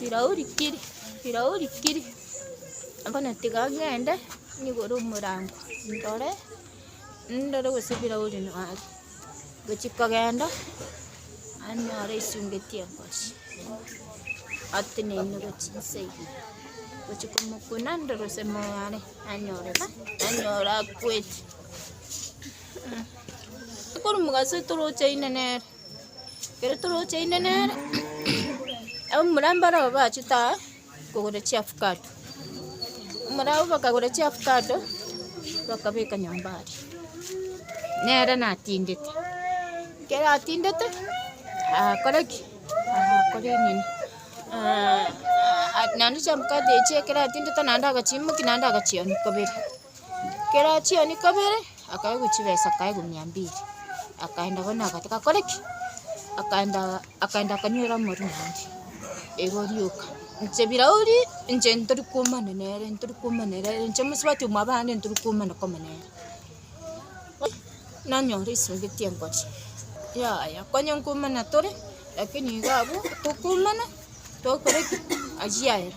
Bilauri kiri, bilauri kiri, bono tiga ng'ende nyigore omorango ndore, ndore gose bilauri noo are. Gochia kogenda, naye nyore aisungeti engosho, ateneine gochia inse ime, gochia komokuna ndore gose moyo are, nanyora ng'a, nanyora akweti. Akorwa omogaso toroche aine nere. Ekero toroche inde nere, abamura mbarabwo bachete aa kogora chiafukate, abamura abwo bakagora chiafukate, bakabeka nyomba aria, nere natindete. Ekero atindete, akore ki? akore nini naende chiafukate echio ekero atindete naende agachimokia naende agachianika bere. Ekero chiani kabere, akaegwa chibesa akaegwa mia mbili, akaenda bono agataka akore ki? Akaenda akaenda akanywera omorwe omonge, igo orioka, inche birauri, inche ntori komana nere, ntori komana nere, inche mosubati omwa abande ntori komana koma nere. nanyora esubati engocha, yaya konya nkomana tore, lakini iga abwo tokomana, tokore ki? Achia ere.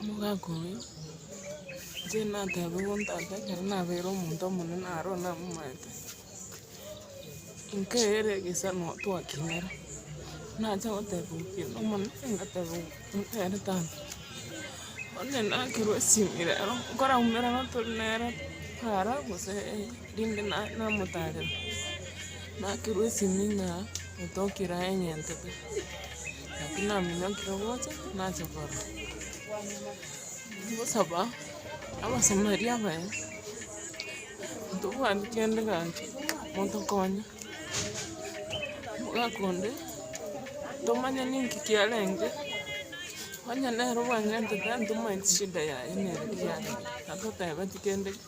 Omogaka oyio inche nateba bo ntata ekero nabeire omonto omonene aro namomaete, nkaera egesano twakinera, nacha goteba okiya omonene ngateba nere tata, onye nakerwa esimi rero, nkoraumera tori nere para gose. Rinde namotarera, nakerwa esimi na netokia eraha enyentete, naki naminyokire gocha nache korora. Ngosaba abasomeri abaye, ntobwati kende gaki, motokonye, omogaka onde, tomanye ninki kiarenge, onye nere obwanyentete antomanyeti shida yaye nere kiarenge, natotebeti kende geki.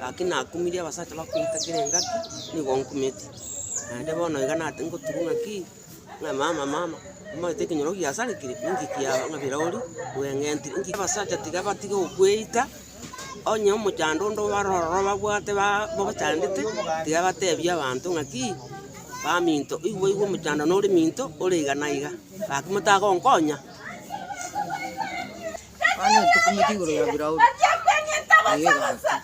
Gaki nakumirie abasacha bakoita kera engaki, nigo nkumeti. Naende bono iga nate ngoturwa ng'aki, ng'a mama mama, omanyete ekenyoro giasarekire, ninki kiago ng'a birouri bweng'entire, ninki abasacha tiga batige gokweita, onye omochando onde obare ororo babwate ba bochandete, tiga batebie abanto ng'aki, baminto oigwa oigwa omochando nore minto, ore iga na iga, gaki motagonkonya. Abana etokumete igoro ya Firauni, naye egakwa.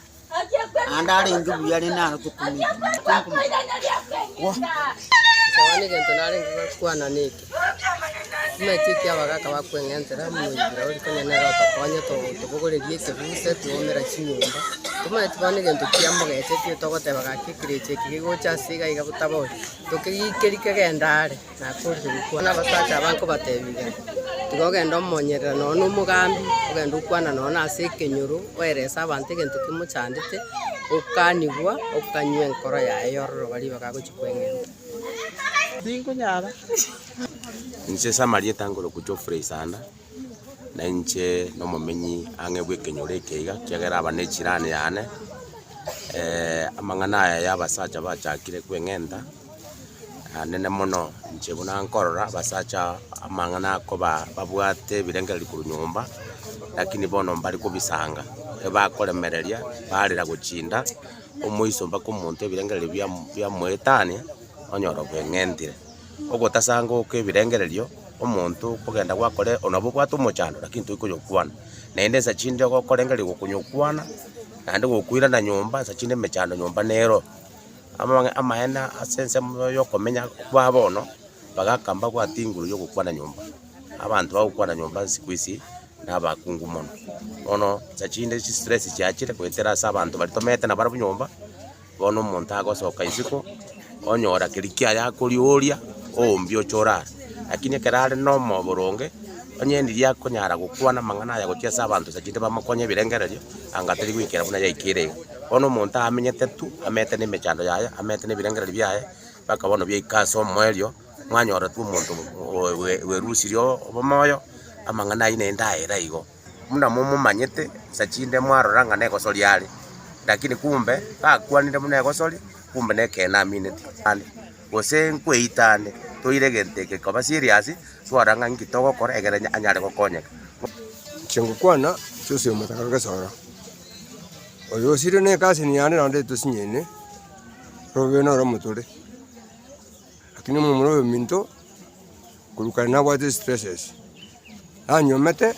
Naende arenge buya rende naro tokumete. Gwa. Nsabane egento narenge gokwana neke. Timanyeti eki abagaka bakweng'entera moyi Firauni konya nere otokonye to- tobogorerie ekebuse twomera chinyomba. Timanyeti bono egento kiamogechetie togoteba gaki ekerecha eke gegocha ase iga iga botabori. Tokegikeri kegende are. Nakoorire gokwana abasacha abange kobatebiga, Tiga ogende omonyerera nonya nomogambi, ogende okwane nonya nase ekenyoro, oerese abanto egento kimochandete, okanigwa, okanywa enkoro yaye yororoba ribaga agochia kweng'enta. Tinkonyara. Inche Samaria etangorokwa Geoffrey Sanda, na inche nomomenyi ang'e bw'ekenyoro eke iga, ekiagera aba n'echirani yane. Amang'ana aya y'abasacha bachakire kweng'enta. Naenene mono, inche buna nkorora abasacha aba amang'ana akoba babwate ebirengererio korwa nyomba, lakini bono mbare kobisanga, ebakoremereria barera gochinda, omoiso mpaka omonto ebirengererio biamo biamoetania, onyora obeng'entire. Ogotasanga oka ebirengererio, omonto okogenda gwakore onye nabo obwate omochando lakini tori konyokwana, naende ensa chinde ogokorengeria gokonyokwana, naende gokoirana nyomba, ensa chinde emechando nyomba nero. Amang'ana amaene ase ensemo y'okomenya kwabo bono, bagaka mbabwate igoro y'ogokwana nyomba. Abanto bagokwana nyomba isiko isi nabakungu mono. Bono sa chinde chi stress chiachire goetera ase abanto baria tomeete nabarabwo nyomba, bono omonto agosoka isiko, onyora keri kiaye akorioria, oombie oche orare. Lakini ekero are na omoyo boronge, onye ndiria akonyara gokwana amang'ana aya gochia ase abanto sa chinde bamokonye ebirengererio, anga tari goikera buna yaikire iga. Bono omonto aamenyete tu, ameete nemechando yaye, ameete nebirengererio biaye, mpaka bono biaika ase omoerio, mwanyora tu omonto oe- oe- oerusirie o- omoyo, amang'ana ayio naende aere igo. Buna momomanyete, sa chinde mwarora ng'a negosoria are, rakini kumbe gakwanire buna egosori, kumbe nekeene amineti ande, gose nkweita ande, toire egento eke koba serious, twarora ng'a inki togokora ekero anyare gokonyeka. Chingokwana chiosi omotaka gesoro, Oyo osire ne casini yane naende tosinyeine robe noro motore lakini omomura oyo minto korwa kare nabwate stresses nanyomete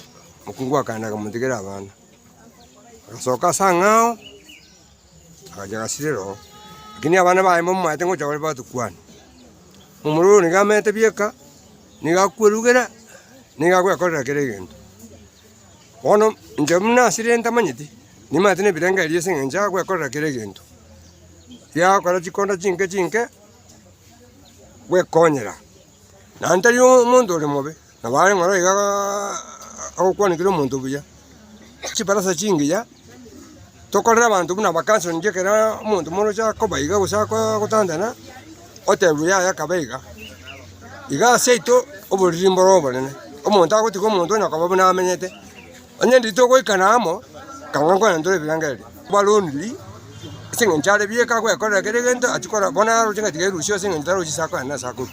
mokungu akaenda akamotigera abana agasoka ase angao agacha agasirera oo lakini abana baye mbamaete ngocha bare batukwane omomura oyo niga amaete bieka niga akwerugera niga agoekorera kera egento. Bono inche buna asire ntamanyeti, nimanyete nebirengererio ase eng'encho ya gwekorera kera egento, giagokora chikonda chinke chinke gwekonyera. Naende tari omonto ore mobe, nabo are ng'oro iga agokwanekire omonto buya. Chibarasa chingiya. tokorere abanto buna abakansoni ekero omonto moroche akoba iga gose akooo gotantana, otebiwe yaya kaba iga, iga ase yaito oboriri mboro obonene, omonto agotiga omonto onye okaba buna amenyete, onye rende togoikana amo, ekang'u nkonye tore ebirengererio, bare ondirii, ase eng'encho are bieka agwekorera kera egento achikora bono aroche ng'a tiga erusia ase eng'encho tarochi ase akoenda na ase akorua.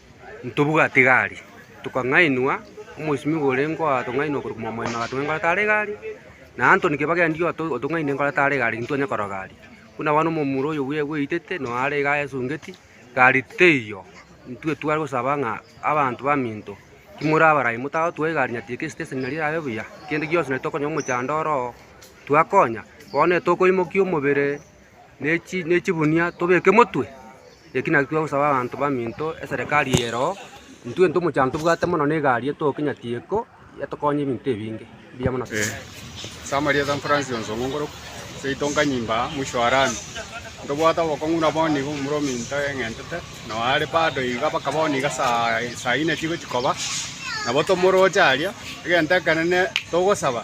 Ntobwate egari, tokang'ainwa, omosibimi bore ngoa tong'ainwa korwa Mwamoime agatong'aina nkoro tare egari, na Antony Kibaki aria oto otong'aine nkoro tare egari intwe onye korora gari. Buna bono omomura oyo bwe bweitete noo are iga ayesungeti, gari teiyo, intwe tware gosaba ng'a abanto baminto, timori abarai motagotuga egari nyatiga esiteseni naria erabe buya, kende gionsi nari tokonywa omochando oroo, twakonya, bono etokoimokia omobere. nechi nechigunia tobeke motwe, eki naki twagosaba abanto baminto eserekari eye ero oo, intwe nto omochango tobwate mono na egari etoe kinya tieko, etokonye ebinto ebinge. Mbuya mono asante. Ase amarieta Francis Onsong'u Ngoroku, seito Nkanyimba mwisho wa lami, ntobwate obokong'u buna bono igo momura ominto eng'entete, nao are bado iga mpaka bono iga saa saa inye chigochia koba, nabo tomoroche aria, egento ekenene togosaba.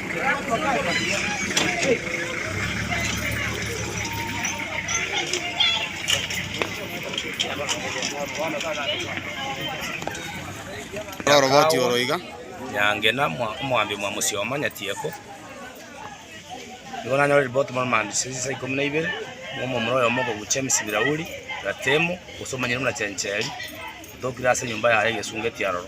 Noroboti oro iga. nyange na mwa- omwambi mwa mosioma nyatieko nigo nanyore riboti muna maambisio ya chinsa ikomi na ibere na omomura oyomo okogucha emisi birauri ratemo gose omonyene buna chencheri otokire ase enyomba yaye egesungeti aroro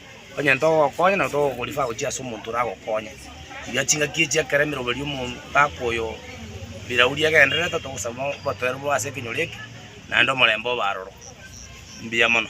Onye ntogokonya na togokorifa gochia ase omonto oragokonye, rigia chingaki echio ekero emeroberio y'omogaka oyo birauri egendererete, otogosaba obotoereru bobe ase ekenyoro eke, naende omorembe obe aroro. Mbuya mono.